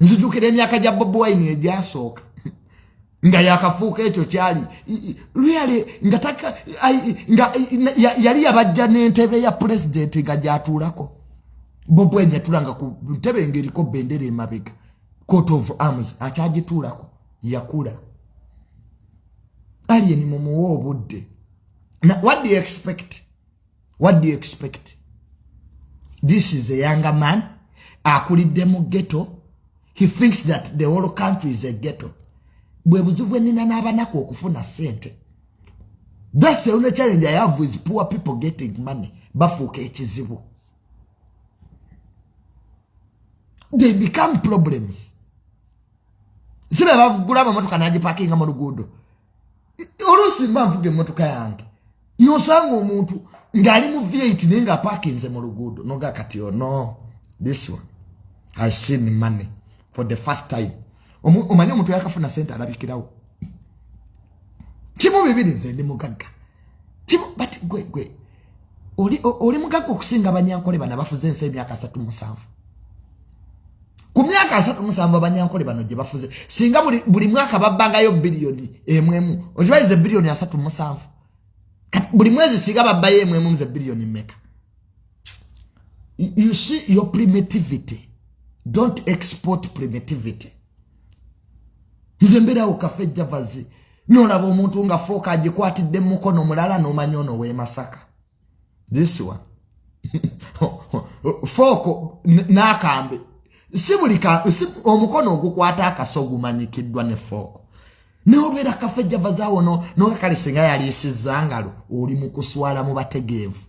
nzijukira emyaka gya bobi wine egyasooka nga yakafuuka ekyo kyali luyale nga taka nga yali yabajja n'entebe ya pulezidenti nga gyatuulako bobi wine yatulanga ku ntebe ngaeriko bendera emabega court of arms akyagituulako yakula alien mumuwa obudde what do you expect what do you expect this is a younger man akulidde mu ghetto he thinks that the whole country is a ghetto bwe buzibu bwenina n'abanaku okufuna sente that's the only challenge i have with poor people getting money bafuuka ekizibu they become problems sibe bavugula amamotoka nagipakinga mu luguudo oluusi mba nvuga emmotoka yange nosanga omuntu ng'ali mu vit naye nga apakinze mu luguudo noga kati ono oh this one has seen money for the first time omanye omuntu yakafuna sente alabikirawo kimu bibiri nze ndi mugagga kimu but gwe gwe oli mugagga okusinga abanyankole bana bafuze ensi emyaka asatu musanvu ku myaka asatu musanvu abanyankole bano gye bafuze singa buli mwaka babbangayo biliyoni emu emu okibalize biliyoni asatu musanvu buli mwezi singa babbayo emu emu nze biliyoni mmeka you see your primitivity don't export primitivity nze mbeerawo kafe javazi nolaba omuntu nga fooka agikwatidde mumukono mulala nomanya ono wemasaka this one fooko n'akambe si buli omukono ogukwata akaso ogumanyikiddwa ne fooko nobeera kafe javazawo no noga kale singa yaliisiza ngalo oli mu kuswala mu bategeevu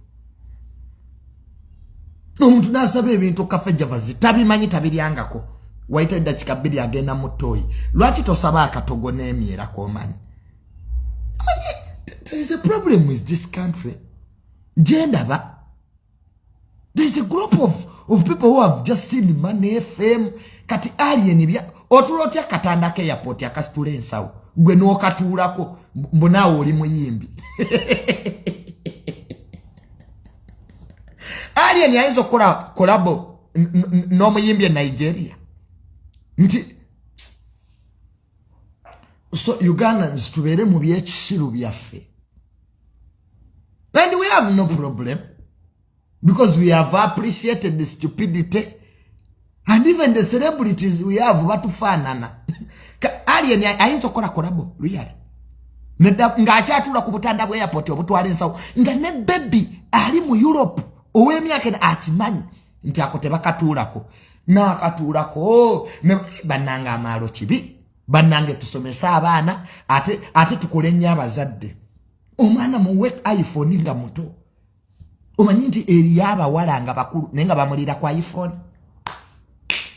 omuntu nasaba ebintu kafe javazi tabimanyi tabiryangako waita eddakika bbiri agenda mu ttooyi lwaki tosaba akatogo n'emyera komanyi there is a problem with this country gyendaba there is a group of, of people who have just seen money fame kati alien bya otula otya katanda ke airport akasitula ensawo gwe n'okatuulako mbu naawe oli muyimbi alien ayinza okukola kolabo n'omuyimbi e nigeria nti so ugandans tubeere mu byekisiru byaffe and we have no problem because we have appreciated the stupidity and even the celebrities we have batufaanana alien ayinza okukola kolabo luyale ng'akyatula ku butanda bwa airport obutwala ensawo nga ne bebi ali mu europe ow'emyaka ena akimanyi nti ako tebakatuulako nakatuulako bannanga amaalo kibi bannange tusomese abaana ate, ate tukole nnyo abazadde omwana muwe iphone nga muto omanyi nti eriyo abawala nga bakulu naye nga bamulira ku iphone